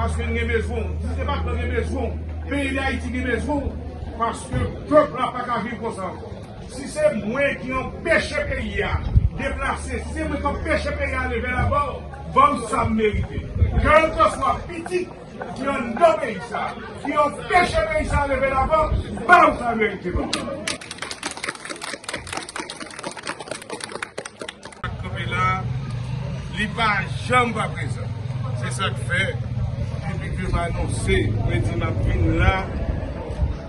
Paske n gen bezwen w. Si se pa tan gen bezwen w. Peyi Dayiti gen bezwen w. Paske pèp la pa ka viv konsa ankò. Si se mwen ki anpeche peyi a deplase, si se mwen ki anpeche peyi a ale vè lavan, ban m sa m merite. Kèlkeswa pitit ki anndan peyi sa a, ki anpeche peyi sa a ale vè lavan, ban m sa l merite ban m. Sak kanpe la li pa janm pa prezan se sak fè depi kem anonse mwen di map vin la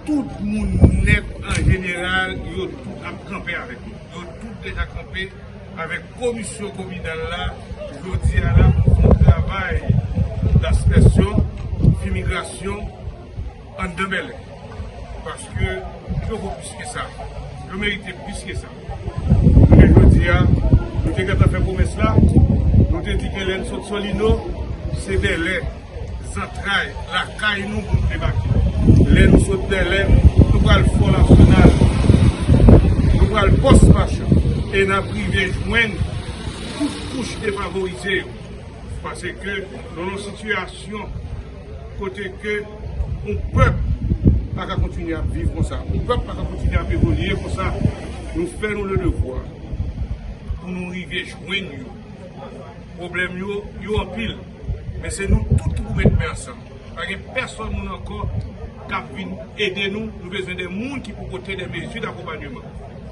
tout moun nèt an jeneral yo tout ap kanpe avèk mwen yo tout deja kanpe avèk komisyon kominal la jodi a la pou fon travay daspèsyon fimigrasyon. Anndan Bèlè. Paske yo vo plis ke sa. Yo merite plis ke sa. Jounen jodi a, nou te gentan fè pwomès la. Nou te di ke lè n sot Solino, se Bèlè, zantray, lakay nou pou n debake. Lè nou sot Bèlè, nou pral Fò Nasyonal. Nou pral Pòs Machan. E n ap rive jwenn tout kouch defavorize yo. Paske nou nan yon sitiyasyon. Kote ke yon pèp pa ka kontinye ap viv konsa, yon pèp pa ka kontinye ap evolye konsa, nou fè nou le devwa pou nou rive jwenn yo. Pwoblèm yo, yo anpil, men se nou tout ki pou met men ansanm. Pa gen pèsòn moun ankò k ap vin ede nou, nou bezwen de moun ki pou pote de mezi dakonpanyeman.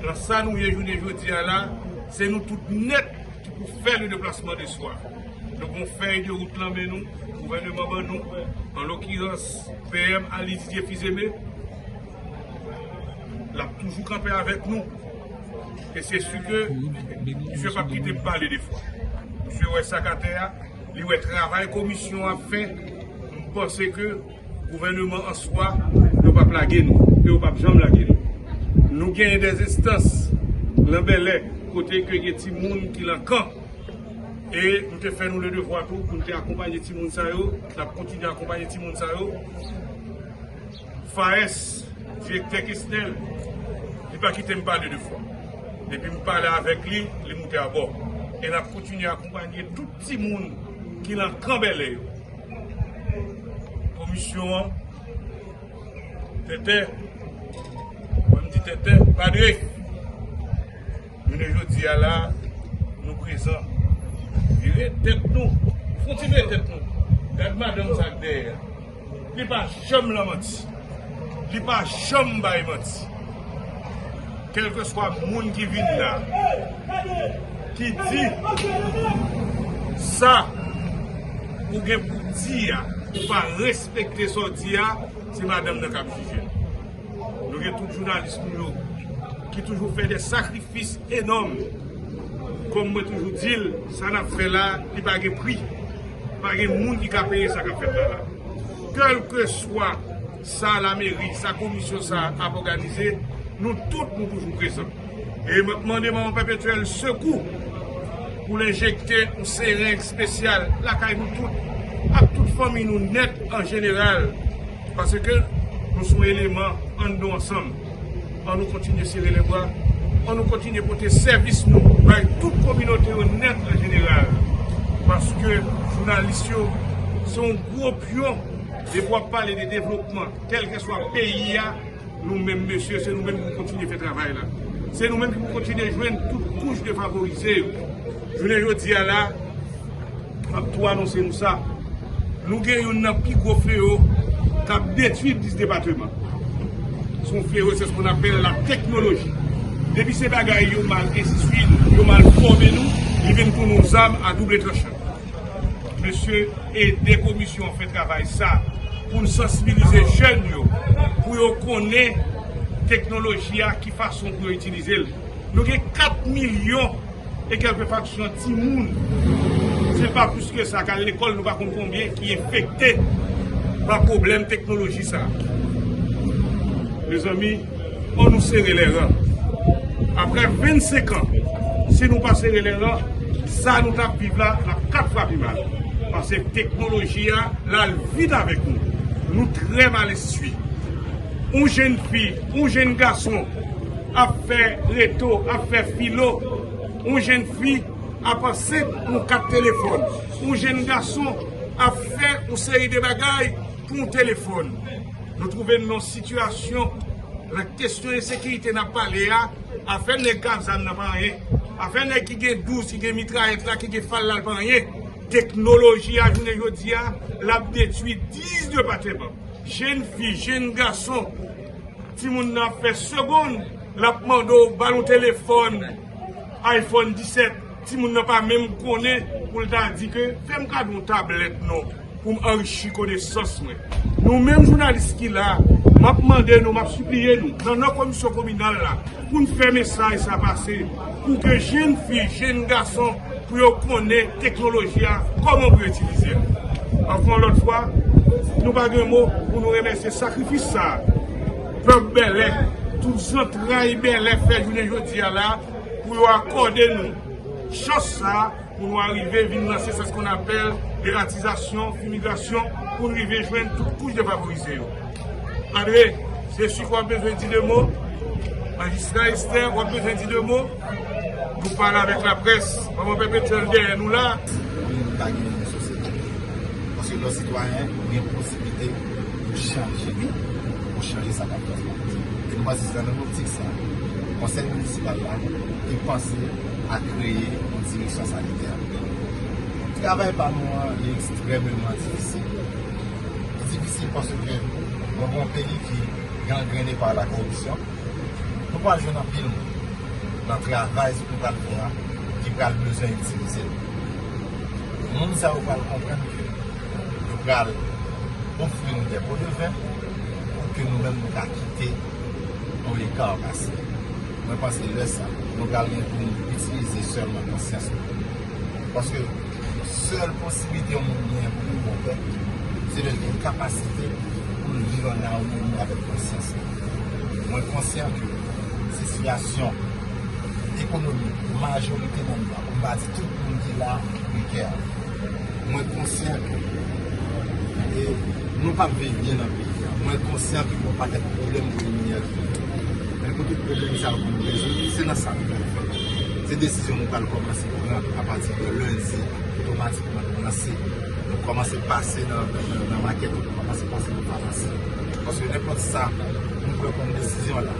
Nan sa nou ye jounen jodi a la, se nou tout nèt ki pou fè le deplasman de swa. Nou gon fèy de wout lan men nou, gouvèneman ban nou, an lokirans PM Ali Didier Fils-Aimé. L ap toujou kanpe avèk nou. E se si ke misye pa p kite m pale defwa. Misye wè sa k atè a, li wè travay komisyon an ap fè, m panse ke. Gouvèneman an swa yo pap lage nou e yo pap janm lage nou. Nou genyen des estans lan Bèlè kote ke gen ti moun ki lan kan e nou te fè nou le devwa tou pou nou te akonpanye ti moun sa yo, nap kontinye akonpanye ti moun sa yo. FAES, Direktè Kesnel, li pa kite m pale de fwa. Depi m pale avèk li, li moute abò. E nap kontinye akonpanye tout. Ti moun ki lan kanbèlè yo. Komisyon an. Tètè. Mwen m di tètè. Padre. Jounen jodi a la. Nou prezan. Vire tèt nou. Fon ti vire tèt nou. Gad madanm sa k dèyè a. Li pa janm lan manti. Li pa janm bay manti. Kelkeswa moun ki vin la, ki di sa ou gen pou di a, ou pa respekte sa ou di a, se madanm nan kap jije. Nou gen tout jounalis nou yo ki toujou fè de sakrifis enòm. Kòm mwen toujou di l, sa nap fè la, li pa gen pri. Pa gen moun ki ka peye sa k ap fèt la la. Kèlkeswa sa lameri, sa komisyon sa a ap òganize, nou tout nou toujou prezan. E m ap mande manman pèpetyèl sekou pou l enjekte yon sereng espesyal lakay nou tout ak tout fanmi nou nèt an jeneral. Paske nou son eleman ann nou ansanm an nou kontinye sere lè bra an nou kontinye pote sèvis nou bay tout kominote yo nèt an jeneral paske jounalis yo se yon gwo pyon depi wap pale de devlopman kèlkeswa peyi a nou menm mesye se nou menm pou kontinye fè travay la se nou menm ki pou kontinye jwenn tout kouch defavorize yo jounen jodi a la. M ap tou anonse nou sa, nou gen youn nan pi gwo fleyo k ap detwi 10 depateman. Se yon fleyo se skou n apèl la teknoloji. Depi se bagay yo mal enstwi nou, yo mal fòme nou, li vin tounen yon zam a double tranchan. Mesye, ede komisyon an fè travay sa pou n sansibilize jèn yo pou yo konnen teknoloji a ki fason pou yo itilize l. Nou gen 4 milyon. E kèlke faksyon timoun, se pa plis ke sa, kal lekòl nou pa konn konbyen ki enfekte pa pwoblèm teknoloji sa. Mezanmi, an nou sere lè ran. Aprè 25 an, si nou pa sere lè ran, sa nou tap viv la, la kat fwa pi mal. Pase teknoloji a, lal vit avèk nou. Nou trè mal enstwi. Yon jenn fi. Yon jenn gason ap fè reto, ap fè filo, yon jenn fi ap ansent pou yon kat telefòn, yon jenn gason ap fè yon seri de bagay pou yon telefòn. Nou twouve nou nan yon sitiyasyon, lè kesyon ensekirite n ap pale a, afè nèg k ap zam nan pa anyen, afè nèg ki gen 12, ki gen mitrayèt la, ki gen fal la l pa anyen. Teknoloji a jounen jodi a, l ap detui 10 depatèman. Jenn fi, jenn gason, timoun nan ap fè segonn l ap mande w ba l yon telefòn iPhone 17, timoun nan pa menm konnen pou l ta di ke fè m kado yon tablèt non pou m anrichi konesans mwen. Nou menm jounalis ki la, m ap mande nou, m ap sipliye nou, nan non komisyon kominal la, pou n fè mesaj sa pase. Pou ke jenn fi, jenn gason pou yo konnen teknoloji a, kòman pou yo itilize l. Ankò yon lòt fwa, nou pa gen mo pou nou remèsye sakrifis sa a pèp Bèlè, tout zantray Bèlè fè jounen jodi a la pou yo akòde nou chans sa a. Pou nou arive vin lanse sa skou n apèl deratizasyon, fimigasyon, pou n rive jwenn tout kouch defavorize yo. Andre, se sif wap bezwen di de mo? Majistra Estè, wap bezwen di de mo? Nou pale avèk la près, manman pèpetyèl dèyè nou la. Pou nou ta gen yon sosyete. Paske lò sitwayen ou gen posibilite pou chanje li, pou chanje sa kap fèt. E nou pa se se nan optik sa. Konsèy minisipal la, te panse. a kreye yon direksyon sanitè. Travay pa nou an li ekstrèmeman difisil. Li difisil paske nou gen yon peyi ki gangrene pa la koripsyon. Nou pral jwenn anpil moun nan travay sa nou pral fè a ki pral bezwen itilize nou. Moun sa yo pral konprann ke yo pral ofri nou de po de ven pou ke nou menm nou ka kite yon ekar pase. Mwen panse lè sa, nou pral gen pou nou itilize sèlman konsyans nou. Paske, sèl posiblite yon moun genyen pou li bon pèp, se lè l gen kapasite pou l viv an amoni avèk konsyans li. Mwen konsyan ke sitiyasyon ekonomik majorite nan nou an, pou m pa di tout moun ki la a, prekè. Mwen konsyan ke nou pap viv byen nan peyi a. Mwen konsyan ke gen yon pakèt pwoblèm pou nou rezoud. Men pou tout pwoblèm sa yo pou nou rezoud, se nan sa nou pral fè l. Se desizyon nou pral kòmanse pran apati de lendi, otomatikman nou lanse, nou kòmanse pase nan makèt, nou kòmanse pase nan famasi. Paske nenpòt sa nou pran kòm desizyon la,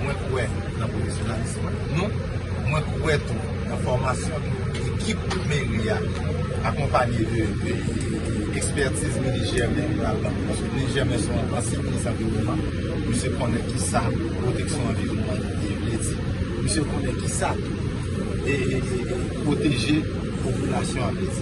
Mwen kwè nan pwofesyonalism nou, mwen kwè tou nan fòmasyon ekip meri a akonpanye de ekspètiz Mini Jèmen yo al nan pwofesyonalism. Mini Jèmen se yon ansyen minis anviwònman, misye konnen ki sa pwoteksyon anviwònman vle di, misye konnen ki sa tou pwoteje popilasyon an vle di.